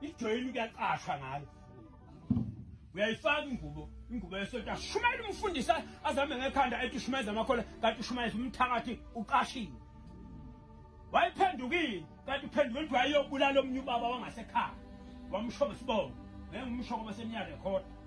ijoyini kuyaqasha ngayo uyayifaka ingubo ingubo yesonto ashumayela umfundisi azame ngekhanda ethi ushumayeza amakhola kanti ushumayeza umthakathi uqashile wayiphendukile kanti uphendukile ukuthi wayeyobulala omunye ubaba wangasekhaya wamsho ngesibongo ngeke umsho ngoba semnyaka ekhona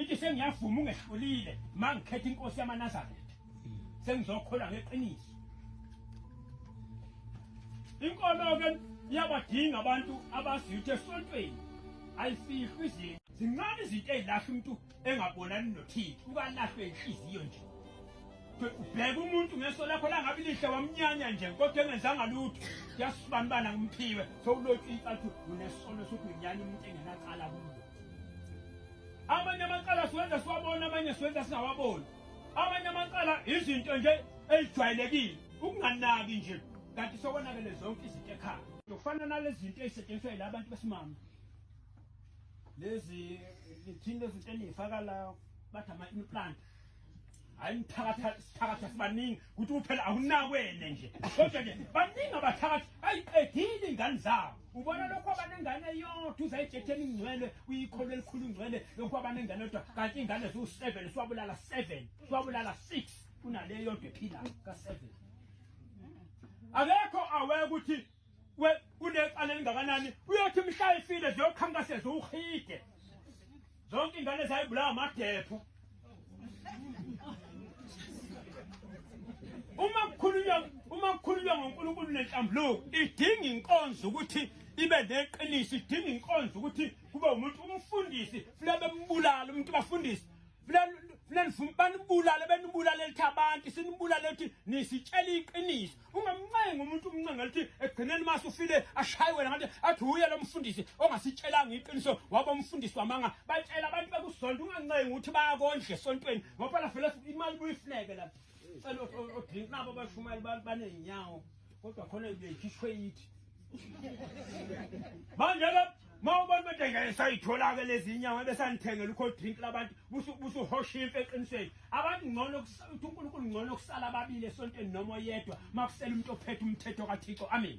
ithi sengiyavuma ungehlulile ma ngikhetha inkosi yamanazaretha sengizokholwa ngeqiniso inkolo-ke iyabadinga abantu abaziyuthe esontweni ayifihlwa izinto zincane izinto ey'lahla umuntu engabonani nothile ukalahlwe inhliziyo nje ubheke umuntu ngeso lakho langabi lihle wamnyanya nje kodwa engenzanga lutho kuyasibanibana ngimphiwe sowulotshwa icathi unesono sokunyanya umuntu engenacala kulo amanye amacala siwenza siwabona amanye siwenza singawaboni amanye amacala izinto nje ezijwayelekile ukunganaki nje kanti sokonakele zonke izinto ekhaya kufana nalezi zinto ezisetshenziswa yila abantu besimame lezi thina lezi zinto eniyifaka la bathi ama-implant hayi mthakatha sithakatha sibaningi ukuthi uphela awunakwene nje kodwa ke baningi abathakathi ayiqedile ingane zabo ubona lokho abanengane yodwa uzayijethela ingcwele uyikholo elikhulu ingcwele lokho abanengane yodwa kanti ingane ziwu-seven siwabulala seven siwabulala six kunale yodwa ephilayo ka-seven akekho aweke ukuthi we kunecala elingakanani uyothi mhla ifile ziyokhankaseza uhide zonke ingane zayibulawa amadepho uma kukhulunywa uma kukhulunywa ngoNkulunkulu nenhlambuluko idinga inkonzo ukuthi ibe neqiniso idinga inkonzo ukuthi kube umuntu umfundisi funa bembulala umuntu bafundisi funa nifuna banibulale benibulale lithi abantu sinibulale lithi nisitshela iqiniso ungamncenga umuntu umncenga lithi ekugcineni mase ufile ashaye wena kanti athi uye lo mfundisi ongasitshelanga iqiniso waba umfundisi wamanga batshela abantu bekusonto ungancengi ukuthi bayakondla esontweni ngoba la vele imali buyifuneke la cela odrink nabo bashumayeli banezinyawo kodwa khona beyikhishwe yithi manje ke ma ubona ukuthi ngeke sayithola-ke lezi inyama besanithengela ukho drink labantu busuhosha imfe eqinisweni abantu ngcono ukuthi unkulunkulu ngcono kusala ababili esontweni noma oyedwa ma kusela umuntu ophethe umthetho kathixo amen